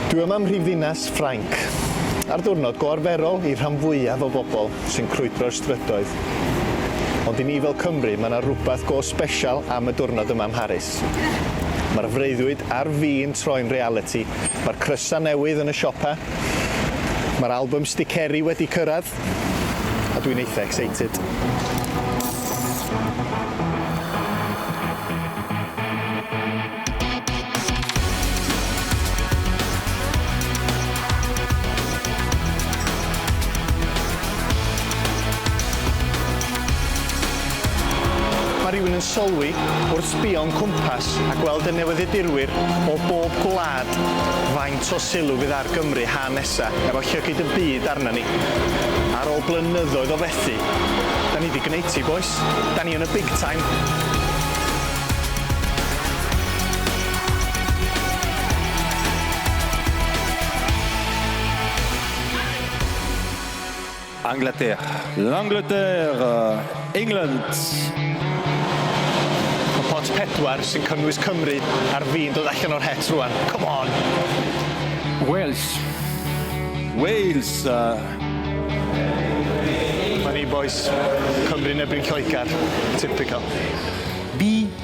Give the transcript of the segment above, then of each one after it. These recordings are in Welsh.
Dwi yma ym mhrifddinas Ffrainc, ar ddiwrnod go arferol i'r rhan fwyaf o bobl sy'n crwydro'r strydoedd. Ond i ni fel Cymry, mae yna rywbeth go sbesial am y diwrnod yma ym Mharis. Mae'r freuddwyd a'r fi'n troi'n realiti, mae'r crysau newydd yn y siopau, mae'r albym sticeri wedi cyrraedd, A dwi'n eitha excited. Mae rhywun yn sylwi wrth sbïo'n cwmpas a gweld y newyddiadurwyr o bob gwlad faint o sylw fydd ar Gymru ha nesaf. Sa, efo llygid y byd arna ni. Ar ôl blynyddoedd o fethu. Da ni di gneud ti bois. Da ni yn y big time. Angleterre. L'Angleterre, England. Ma pot pedwar sy'n cynnwys Cymru ar fin dod allan o'r het rwan. Come on! Wales. Wales. Funny bois. Cymru yn erbyn Lloegar. Typical. Bee.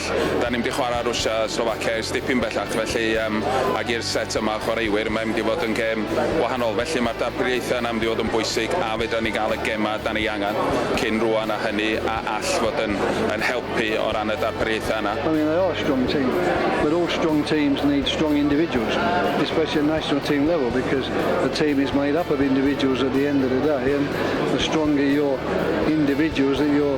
Da ni'n mynd i chwarae Rwsia a Slovacia i'r stipyn bellach felly yym ac i'r set yma o chwaraewyr mae'n mynd i fod yn gêm wahanol felly mae'r darpariaethau yna mynd i fod yn bwysig a fedra ni gael y gemau da ni angen cyn rŵan a hynny a all fod yn yn helpu o ran y darpariaethau yna. I mean they are a strong team but all strong teams need strong individuals especially at national team level because the team is made up of individuals at the end of the day and the stronger your individuals that you're